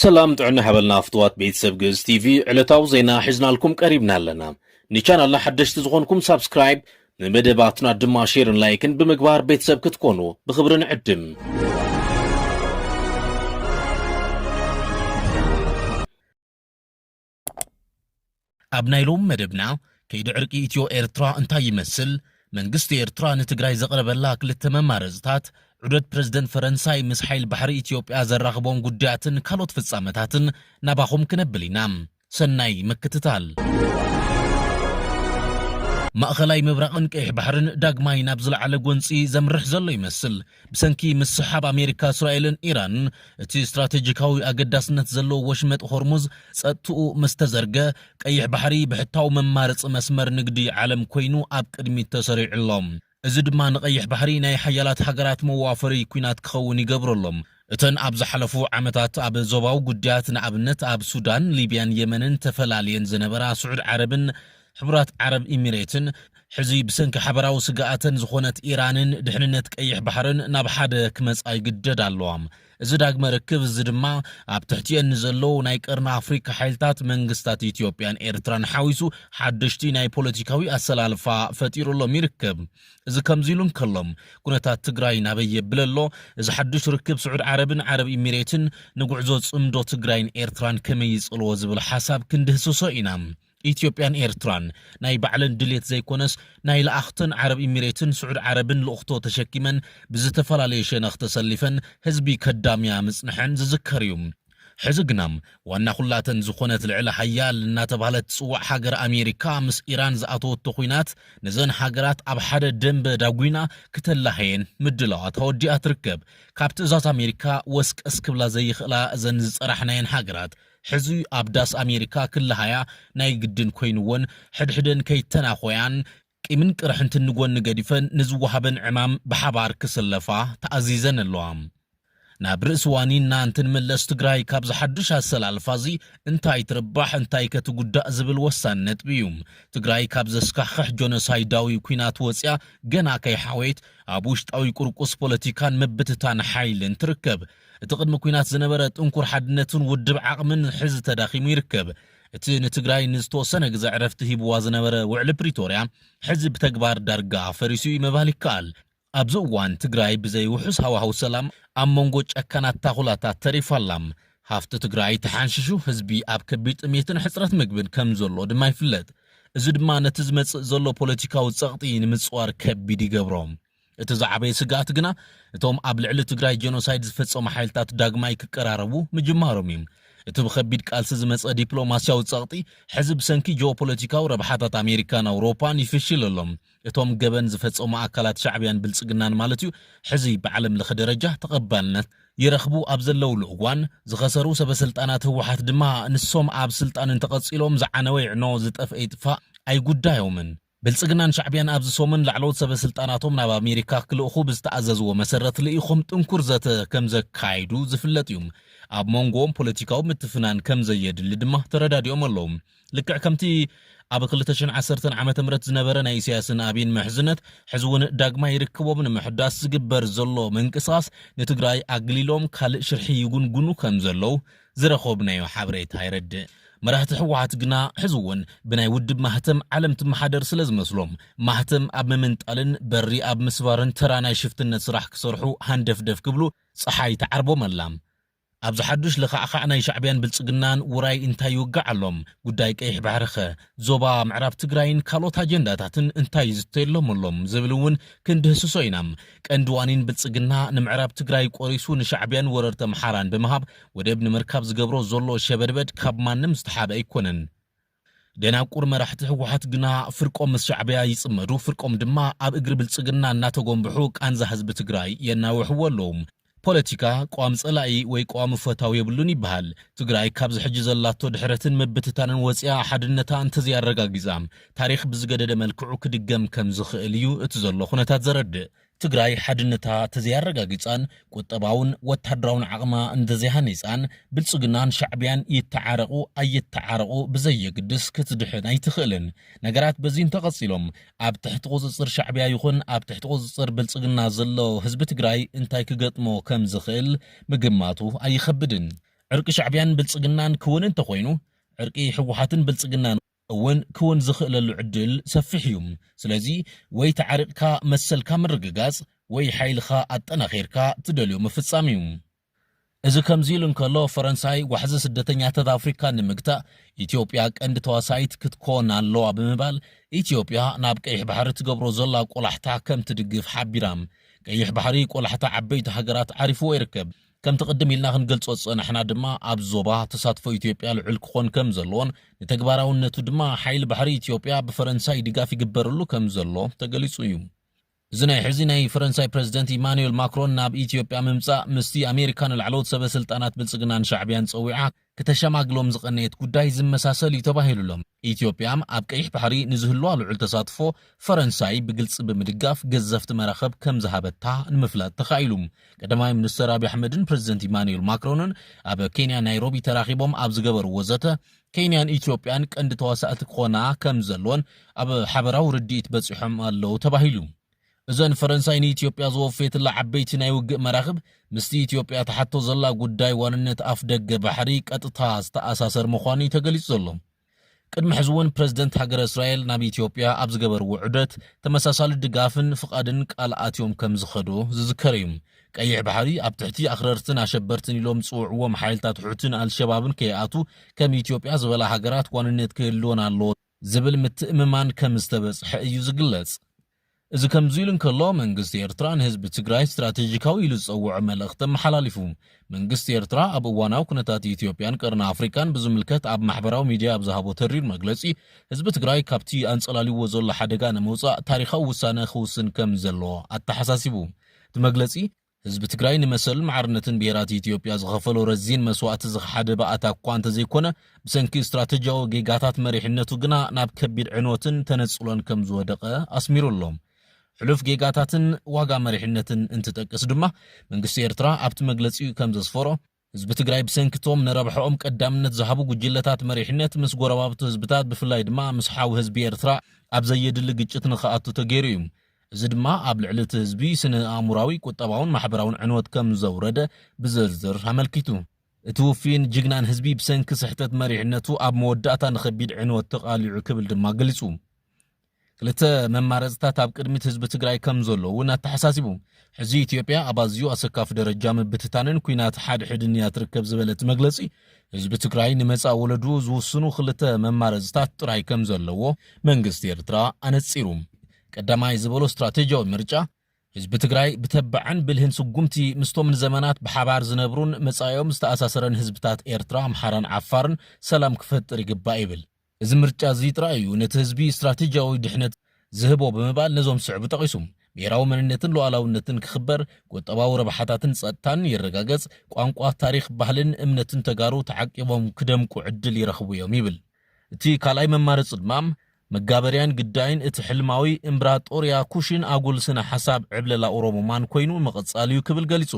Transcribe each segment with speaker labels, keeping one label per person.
Speaker 1: ሰላም ጥዕና ሓበልና ፍትዋት ቤተሰብ ግእዝ ቲቪ ዕለታዊ ዜና ሒዝናልኩም ቀሪብና ኣለና ንቻናልና ሓደሽቲ ዝኾንኩም ሳብስክራይብ ንመደባትና ድማ ሼርን ላይክን ብምግባር ቤተሰብ ክትኮኑ ብኽብሪ ንዕድም
Speaker 2: ኣብ ናይ ሎሚ መደብና ከይዲ ዕርቂ ኢትዮ ኤርትራ እንታይ ይመስል፣ መንግስቲ ኤርትራ ንትግራይ ዘቕረበላ ክልተ መማረፅታት፣ ዑደት ፕረዚደንት ፈረንሳይ ምስ ሓይሊ ባሕሪ ኢትዮጵያ ዘራኽቦም ጉዳያትን ካልኦት ፍፃመታትን ናባኹም ክነብል ኢና። ሰናይ ምክትታል። ማእኸላይ ምብራቕን ቀይሕ ባሕርን ዳግማይ ናብ ዝለዓለ ጎንፂ ዘምርሕ ዘሎ ይመስል። ብሰንኪ ምስሕሓብ ኣሜሪካ፣ እስራኤልን ኢራንን እቲ ስትራቴጂካዊ ኣገዳስነት ዘለዎ ወሽመጥ ሆርሙዝ ጸጥትኡ ምስ ተዘርገ፣ ቀይሕ ባሕሪ ብሕታዊ መማረጺ መስመር ንግዲ ዓለም ኮይኑ ኣብ ቅድሚት ተሰሪዑ ኣሎ። እዚ ድማ ንቀይሕ ባሕሪ ናይ ሓያላት ሃገራት መዋፈሪ ኲናት ክኸውን ይገብሮ ኣሎ። እተን ኣብ ዝሓለፉ ዓመታት ኣብ ዞባዊ ጉዳያት ንኣብነት ኣብ ሱዳን፣ ሊብያን የመንን ተፈላልየን ዝነበራ ስዑድ ዓረብን ሕቡራት ዓረብ ኢሚሬትን ሕዚ ብሰንኪ ሓበራዊ ስግኣተን ዝኾነት ኢራንን ድሕንነት ቀይሕ ባሕርን ናብ ሓደ ክመጻ ይግደዳ ኣለዋ። እዚ ዳግመ ርክብ እዚ ድማ ኣብ ትሕቲኤን ንዘለዉ ናይ ቀርኒ ኣፍሪካ ሓይልታት መንግስታት ኢትዮጵያን ኤርትራን ሓዊሱ ሓደሽቲ ናይ ፖለቲካዊ ኣሰላልፋ ፈጢሩሎም ይርከብ። እዚ ከምዚ ኢሉ እንከሎ ኩነታት ትግራይ ናበይ የብል ኣሎ? እዚ ሓዱሽ ርክብ ስዑድ ዓረብን ዓረብ ኢሚሬትን ንጉዕዞ ጽምዶ ትግራይን ኤርትራን ከመይ ይጽልዎ ዝብል ሓሳብ ክንድህስሶ ኢና። ኢትዮጵያን ኤርትራን ናይ ባዕለን ድሌት ዘይኮነስ ናይ ለኣኽተን ዓረብ ኢሚሬትን ስዑድ ዓረብን ልእኽቶ ተሸኪመን ብዝተፈላለየ ሸነኽ ተሰሊፈን ህዝቢ ከዳምያ ምጽንሐን ዝዝከር እዩ። ሕዚ ግና ዋና ኩላተን ዝኾነት ልዕለ ሃያል እናተባህለት ትጽዋዕ ሃገር ኣሜሪካ ምስ ኢራን ዝኣተወቶ ኹናት ነዘን ሃገራት ኣብ ሓደ ደምበ ዳጒና ክተላህየን ምድላዋት ኣወዲኣ ትርከብ። ካብ ትእዛዝ ኣሜሪካ ወስቀስ ክብላ ዘይኽእላ እዘን ዝጸራሕናየን ሃገራት ሕዚ ኣብ ዳስ ኣሜሪካ ክለሃያ ናይ ግድን ኮይንወን ሕድሕደን ከይተናኾያን ቂምን ቅርሕንትን ንጎኒ ገዲፈን ንዝወሃበን ዕማም ብሓባር ክስለፋ ተኣዚዘን ኣለዋ። ናብ ርእሲ ዋኒንና እንትንምለስ ትግራይ ካብዚ ሓዱሽ ኣሰላልፋ እዚ እንታይ ትርባሕ እንታይከ ትጉዳእ ዝብል ወሳኒ ነጥቢ እዩ። ትግራይ ካብ ዘስካሕኽሕ ጆኖሳይዳዊ ኲናት ወፂኣ ገና ከይሓወየት ኣብ ውሽጣዊ ቁርቁስ ፖለቲካን ምብትታን ሓይልን ትርከብ። እቲ ቅድሚ ኲናት ዝነበረ ጥንኩር ሓድነትን ውድብ ዓቕምን ሕዚ ተዳኺሙ ይርከብ። እቲ ንትግራይ ንዝተወሰነ ግዘ ዕረፍቲ ሂቡዋ ዝነበረ ውዕሊ ፕሪቶርያ ሕዚ ብተግባር ዳርጋ ፈሪሱ እዩ ምባል ይከኣል። ኣብዚ እዋን ትግራይ ብዘይ ውሑስ ሃዋህው ሰላም ኣብ መንጎ ጨካናት ታኹላታት ተሪፋ ኣላ። ሃፍቲ ትግራይ ተሓንሺሹ ህዝቢ ኣብ ከቢድ ጥምየትን ሕፅረት ምግብን ከም ዘሎ ድማ ይፍለጥ። እዚ ድማ ነቲ ዝመፅእ ዘሎ ፖለቲካዊ ፀቕጢ ንምፅዋር ከቢድ ይገብሮ። እቲ ዝዓበየ ስግኣት ግና እቶም ኣብ ልዕሊ ትግራይ ጀኖሳይድ ዝፈጸሙ ሓይልታት ዳግማይ ክቀራረቡ ምጅማሮም እዩ። እቲ ብኸቢድ ቃልሲ ዝመጸ ዲፕሎማስያዊ ጸቕጢ ሕዚ ብሰንኪ ጂኦፖለቲካዊ ረብሓታት ኣሜሪካን ኣውሮፓን ይፍሽል ኣሎ። እቶም ገበን ዝፈጸሙ ኣካላት ሻዕብያን ብልጽግናን ማለት እዩ ሕዚ ብዓለም ለኸ ደረጃ ተቐባልነት ይረኽቡ ኣብ ዘለውሉ እዋን፣ ዝኸሰሩ ሰበስልጣናት ህወሓት ድማ ንሶም ኣብ ስልጣን እንተቐጺሎም ዝዓነወ ይዕኖ ዝጠፍአ ይጥፋእ ኣይጉዳዮምን። ብልጽግናን ሻዕብያን ኣብዚ ሰሙን ላዕለዎት ሰበ ስልጣናቶም ናብ ኣሜሪካ ክልእኹ ብዝተኣዘዝዎ መሰረት ልኢኾም ጥንኩር ዘተ ከምዘካይዱ ዝፍለጥ እዩ። ኣብ ሞንጎኦም ፖለቲካዊ ምትፍናን ከምዘየድሊ ድማ ተረዳዲኦም ኣለዉ። ልክዕ ከምቲ ኣብ ክልተ ሽሕን ዓሰርተን ዓመተ ምህረት ዝነበረ ናይ ኢሳያስን ኣቢን ምሕዝነት ሕዚ እውን ዳግማይ ርክቦም ንምሕዳስ ዝግበር ዘሎ ምንቅስቓስ ንትግራይ ኣግሊሎም ካልእ ሽርሒ ይጉንጉኑ ከምዘለዉ ዝረኾብናዮ ሓበሬታ የረድእ። መራህቲ ህወሓት ግና ሕዚ'ውን ብናይ ውድብ ማህተም ዓለም ትመሓደር ስለዝመስሎም ማህተም ኣብ ምምንጣልን በሪ ኣብ ምስባርን ተራ ናይ ሽፍትነት ስራሕ ክሰርሑ ሃንደፍደፍ ክብሉ ፀሓይ ትዓርቦም ኣላ። ኣብዚ ሓዱሽ ለኻዕኻዕ ናይ ሻዕቢያን ብልፅግናን ውራይ እንታይ ይውጋዕ ኣሎም? ጉዳይ ቀይሕ ባሕሪ'ኸ ዞባ ምዕራብ ትግራይን ካልኦት ኣጀንዳታትን እንታይ ይዝተየሎም ኣሎ ዝብል እውን ክንድህስሶ ኢና። ቀንዲ ዋኒን ብልፅግና ንምዕራብ ትግራይ ቆሪሱ ንሻዕቢያን ወረርቲ ኣምሓራን ብምሃብ ወደብ ንምርካብ ዝገብሮ ዘሎ ሸበድበድ ካብ ማንም ዝተሓበ ኣይኮነን። ደናቁር መራሕቲ ህወሓት ግና ፍርቆም ምስ ሻዕቢያ ይፅመዱ ፍርቆም ድማ ኣብ እግሪ ብልፅግና እናተጎምብሑ ቃንዛ ህዝቢ ትግራይ የናውሕዎ ኣለዉ። ፖለቲካ ቀዋሚ ፀላኢ ወይ ቀዋሚ ፈታው የብሉን ይበሃል። ትግራይ ካብዚ ሕጂ ዘላቶ ድሕረትን ምብትታንን ወፂኣ ሓድነታ እንተዘይኣረጋጊፃ ታሪኽ ብዝገደደ መልክዑ ክድገም ከምዝኽእል እዩ እቲ ዘሎ ኩነታት ዘረድእ። ትግራይ ሓድነታ ተዘይኣረጋጊፃን ቁጠባውን ወታደራውን ዓቕማ እንተዘይሃኒፃን ብልፅግናን ሻዕቢያን ይተዓረቑ ኣይተዓረቑ ብዘየግድስ ክትድሕን ኣይትኽእልን። ነገራት በዚ እንተቐፂሎም ኣብ ትሕቲ ቁፅፅር ሻዕቢያ ይኹን ኣብ ትሕቲ ቁፅፅር ብልፅግና ዘሎ ህዝቢ ትግራይ እንታይ ክገጥሞ ከምዝኽእል ምግማቱ ኣይኸብድን። ዕርቂ ሻዕቢያን ብልፅግናን ክውን እንተኾይኑ ዕርቂ ህወሓትን ብልፅግናን እውን ክውን ዝኽእለሉ ዕድል ሰፊሕ እዩ። ስለዚ ወይ ተዓሪቕካ መሰልካ ምርግጋፅ ወይ ሓይልኻ ኣጠናኺርካ ትደልዮ ምፍፃም እዩ። እዚ ከምዚ ኢሉ እንከሎ፣ ፈረንሳይ ዋሕዚ ስደተኛታት ኣፍሪካ ንምግታእ ኢትዮጵያ ቀንዲ ተዋሳኢት ክትኮን ኣለዋ ብምባል ኢትዮጵያ ናብ ቀይሕ ባሕሪ ትገብሮ ዘላ ቆላሕታ ከምትድግፍ ሓቢራ። ቀይሕ ባሕሪ ቆላሕታ ዓበይቲ ሃገራት ዓሪፍዎ ይርከብ። ከምቲ ቅድም ኢልና ክንገልጾ ዝጸናሕና ድማ ኣብዚ ዞባ ተሳትፎ ኢትዮጵያ ልዑል ክኾን ከምዘለዎን ንተግባራውነቱ ድማ ሓይሊ ባሕሪ ኢትዮጵያ ብፈረንሳይ ድጋፍ ይግበረሉ ከምዘሎ ተገሊጹ እዩ። እዚ ናይ ሕዚ ናይ ፈረንሳይ ፕረዚደንት ኢማኑኤል ማክሮን ናብ ኢትዮጵያ ምምጻእ ምስቲ ኣሜሪካ ንላዕለዎት ሰበ ስልጣናት ብልጽግናን ሻዕብያን ጸዊዓ ክተሸማግሎም ዝቐነየት ጉዳይ ዝመሳሰል እዩ ተባሂሉ'ሎ። ኢትዮጵያም ኣብ ቀይሕ ባሕሪ ንዝህልዋ ልዑል ተሳትፎ ፈረንሳይ ብግልጺ ብምድጋፍ ገዘፍቲ መራኽብ ከምዝሃበታ ንምፍላጥ ተኻኢሉ። ቀዳማይ ሚኒስተር ኣቢይ ኣሕመድን ፕረዚደንት ኢማኑኤል ማክሮንን ኣብ ኬንያ ናይሮቢ ተራኺቦም ኣብ ዝገበርዎ ዘተ፣ ኬንያን ኢትዮጵያን ቀንዲ ተዋሳእቲ ክኾና ከም ዘለወን ኣብ ሓበራዊ ርድኢት በጺሖም ኣለዉ ተባሂሉ። እዘን ፈረንሳይ ንኢትዮጵያ ዘወፈየትላ ዓበይቲ ናይ ውግእ መራኽብ ምስቲ ኢትዮጵያ ትሓቶ ዘላ ጉዳይ ዋንነት ኣፍደገ ባሕሪ ቀጥታ ዝተኣሳሰር ምዃኑ'ዩ ተገሊጹ ዘሎ። ቅድሚ ሕዚ'ውን ፕረዚደንት ሃገረ እስራኤል ናብ ኢትዮጵያ ኣብ ዝገበርዎ ዑደት ተመሳሳሊ ድጋፍን ፍቓድን ቃል ኣትዮም ከም ዝኸዱ ዝዝከር'ዩ። ቀይሕ ባሕሪ ኣብ ትሕቲ ኣኽረርትን ኣሸበርትን ኢሎም ዝጽውዕዎም ሓይልታት ሑትን ኣልሸባብን ከይኣቱ ከም ኢትዮጵያ ዝበላ ሃገራት ዋንነት ክህልወን ኣለዎ ዝብል ምትእምማን ከም ዝተበጽሐ እዩ ዝግለጽ። እዚ ከምዚ ኢሉ እንከሎ መንግስቲ ኤርትራ ንህዝቢ ትግራይ ስትራቴጂካዊ ኢሉ ዝጸውዖ መልእኽቲ ኣመሓላሊፉ። መንግስቲ ኤርትራ ኣብ እዋናዊ ኩነታት ኢትዮጵያን ቀርኒ ኣፍሪቃን ብዝምልከት ኣብ ማሕበራዊ ሚድያ ኣብ ዝሃቦ ተሪር መግለጺ ህዝቢ ትግራይ ካብቲ ኣንጸላልይዎ ዘሎ ሓደጋ ንምውጻእ ታሪኻዊ ውሳነ ክውስን ከም ዘለዎ ኣተሓሳሲቡ። እቲ መግለጺ፣ ህዝቢ ትግራይ ንመሰልን ማዕርነትን ብሄራት ኢትዮጵያ ዝኸፈሎ ረዚን መስዋእቲ ዝኸሓደ ባእታ እኳ እንተዘይኮነ፣ ብሰንኪ ስትራተጂያዊ ጌጋታት መሪሕነቱ ግና ናብ ከቢድ ዕንወትን ተነጽሎን ከም ዝወደቐ ኣስሚሩ ኣሎ። ሕሉፍ ጌጋታትን ዋጋ መሪሕነትን እንትጠቅስ ድማ፣ መንግስቲ ኤርትራ ኣብቲ መግለጺኡ ከም ዘስፈሮ፣ ህዝቢ ትግራይ ብሰንኪ እቶም ንረብሐኦም ቀዳምነት ዝሃቡ ጉጅለታት መሪሕነት ምስ ጎረባብቱ ህዝብታት ብፍላይ ድማ ምስ ሓው ህዝቢ ኤርትራ ኣብ ዘየድሊ ግጭት ንክኣቱ ተገይሩ እዩ። እዚ ድማ ኣብ ልዕሊ እቲ ህዝቢ ስነ-ኣእሙራዊ፣ ቁጠባውን ማሕበራውን ዕንወት ከም ዘውረደ ብዝርዝር ኣመልኪቱ። እቲ ውፍይን ጅግናን ህዝቢ ብሰንኪ ስሕተት መሪሕነቱ ኣብ መወዳእታ ንከቢድ ዕንወት ተቓሊዑ ክብል ድማ ገሊጹ። ክልተ መማረፅታት ኣብ ቅድሚት ህዝቢ ትግራይ ከምዘሎ እውን ኣተሓሳሲቡ። ሕዚ ኢትዮጵያ ኣብ ኣዝዩ ኣሰካፊ ደረጃ ምብትታንን ኲናት ሓድሕድን እያ ትርከብ ዝበለ እቲ መግለፂ፣ ህዝቢ ትግራይ ንመፃኢ ወለድኡ ዝውስኑ ክልተ መማረፅታት ጥራይ ከምዘለዎ መንግስቲ ኤርትራ ኣነፂሩ። ቀዳማይ ዝበሎ ስትራቴጂያዊ ምርጫ፣ ህዝቢ ትግራይ ብተባዕን ብልህን ስጉምቲ ምስቶም ንዘመናት ብሓባር ዝነብሩን መፃኢኦም ዝተኣሳሰረን ህዝብታት ኤርትራ፣ ኣምሓራን ዓፋርን ሰላም ክፈጥር ይግባእ ይብል። እዚ ምርጫ እዚ ጥራይ እዩ ነቲ ህዝቢ ስትራቴጂያዊ ድሕነት ዝህቦ ብምባል ነዞም ዝስዕቡ ጠቒሱ። ብሄራዊ መንነትን ሉኣላውነትን ክኽበር፣ ቁጠባዊ ረብሓታትን ፀጥታን ይረጋገፅ፣ ቋንቋ፣ ታሪኽ፣ ባህልን እምነትን ተጋሩ ተዓቂቦም ክደምቁ ዕድል ይረኽቡ እዮም ይብል። እቲ ካልኣይ መማረፂ ድማ መጋበርያን ግዳይን እቲ ሕልማዊ እምብራጦርያ ኩሽን ኣጉል ስነ ሓሳብ ዕብለላ ኦሮሙማን ኮይኑ ምቕፃል እዩ ክብል ገሊፁ።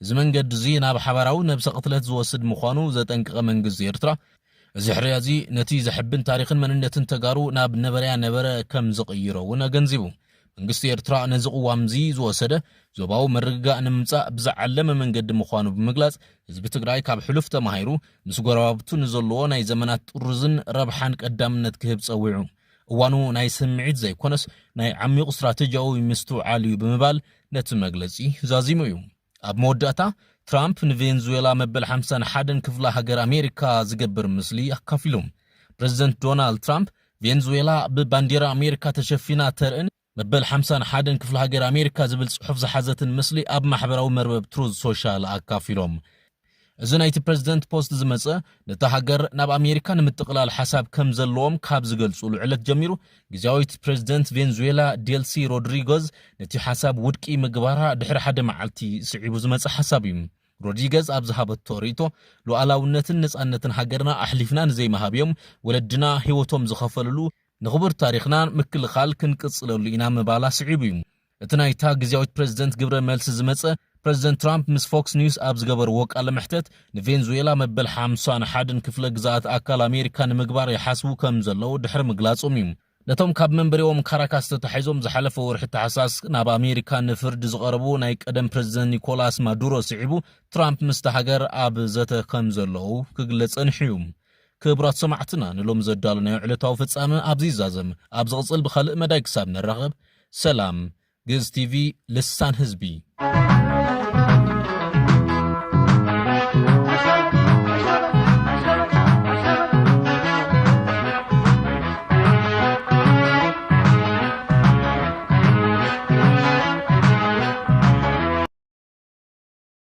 Speaker 2: እዚ መንገዲ'ዚ ናብ ሓባራዊ ነብሰ ቅትለት ዝወስድ ምዃኑ ዘጠንቀቐ መንግስቲ ኤርትራ፣ እዚ ሕርያ'ዚ ነቲ ዘሕብን ታሪኽን መንነትን ተጋሩ ናብ ነበረያ ነበረ ከም ዝቕይሮ እውን ኣገንዚቡ። መንግስቲ ኤርትራ ነዚ ቅዋም'ዚ ዝወሰደ፣ ዞባዊ ምርግጋእ ንምምጻእ ብዝዓለመ መንገዲ ምዃኑ ብምግላጽ፣ ህዝቢ ትግራይ ካብ ሕሉፍ ተማሂሩ፣ ምስ ጎረባብቱ ንዘለዎ ናይ ዘመናት ጥርዙን ረብሓን ቀዳምነት ክህብ ጸዊዑ። እዋኑ ናይ ስምዒት ዘይኮነስ ናይ ዓሚቝ ስትራተጂያዊ ምስትውዓል እዩ ብምባል ነቲ መግለጺ ዛዚሙ እዩ። ኣብ መወዳእታ፣ ትራምፕ ንቬንዙዌላ መበል ሓምሳን ሓደን ክፍለ ሃገር ኣሜሪካ ዝገብር ምስሊ ኣካፊሉ። ፕረዚደንት ዶናልድ ትራምፕ፣ ቬንዙዌላ ብባንዴራ ኣሜሪካ ተሸፊና ተርእን መበል ሓምሳን ሓደን ክፍለ ሃገር ኣሜሪካ ዝብል ፅሑፍ ዝሓዘትን ምስሊ ኣብ ማሕበራዊ መርበብ ትሩዝ ሶሻል ኣካፊሎም። እዚ ናይቲ ፕረዚደንት ፖስት ዝመፀ ነታ ሃገር ናብ ኣሜሪካ ንምጥቕላል ሓሳብ ከምዘለዎም ካብ ዝገልፁሉ ዕለት ጀሚሩ ግዝያዊት ፕረዚደንት ቬንዙዌላ ዴልሲ ሮድሪጎዝ ነቲ ሓሳብ ውድቂ ምግባራ ድሕሪ ሓደ መዓልቲ ስዒቡ ዝመፀ ሓሳብ እዩ። ሮድሪገዝ ኣብ ዝሃበቶ ርእይቶ ሉኣላውነትን ነፃነትን ሃገርና ኣሕሊፍና ንዘይምሃብ እዮም ወለድና ህይወቶም ዝኸፈልሉ፣ ንክቡር ታሪኽና ምክልኻል ክንቅጽለሉ ኢና ምባላ ስዒቡ'ዩ እቲ ናይታ ግዝያዊት ፕረዚደንት ግብረ መልሲ ዝመጸ። ፕረዚደንት ትራምፕ ምስ ፎክስ ኒውስ ኣብ ዝገበርዎ ቃለ መሕተት፣ ንቬንዙዌላ መበል ሓምሳን ሓደን ክፍለ ግዝኣት ኣካል ኣሜሪካ ንምግባር ይሓስቡ ከም ዘለዉ ድሕሪ ምግላጾም'ዩ ነቶም ካብ መንበሪኦም ካራካስ ተታሒዞም ዝሓለፈ ወርሒ ታሕሳስ ናብ ኣሜሪካ ንፍርዲ ዝቐረቡ ናይ ቀደም ፕረዚደንት ኒኮላስ ማዱሮ ስዒቡ ትራምፕ ምስታ ሃገር ኣብ ዘተ ከም ዘለዉ ክግለጽ ጸኒሑ'ዩ። ክብራት ሰማዕትና ንሎሚ ዘዳለናዮ ዕለታዊ ፍጻመ ኣብዚ ይዛዘም ኣብ ዝቕጽል ብኻልእ መዳይ ክሳብ ንራኸብ ሰላም ግእዝ ቲቪ ልሳን ህዝቢ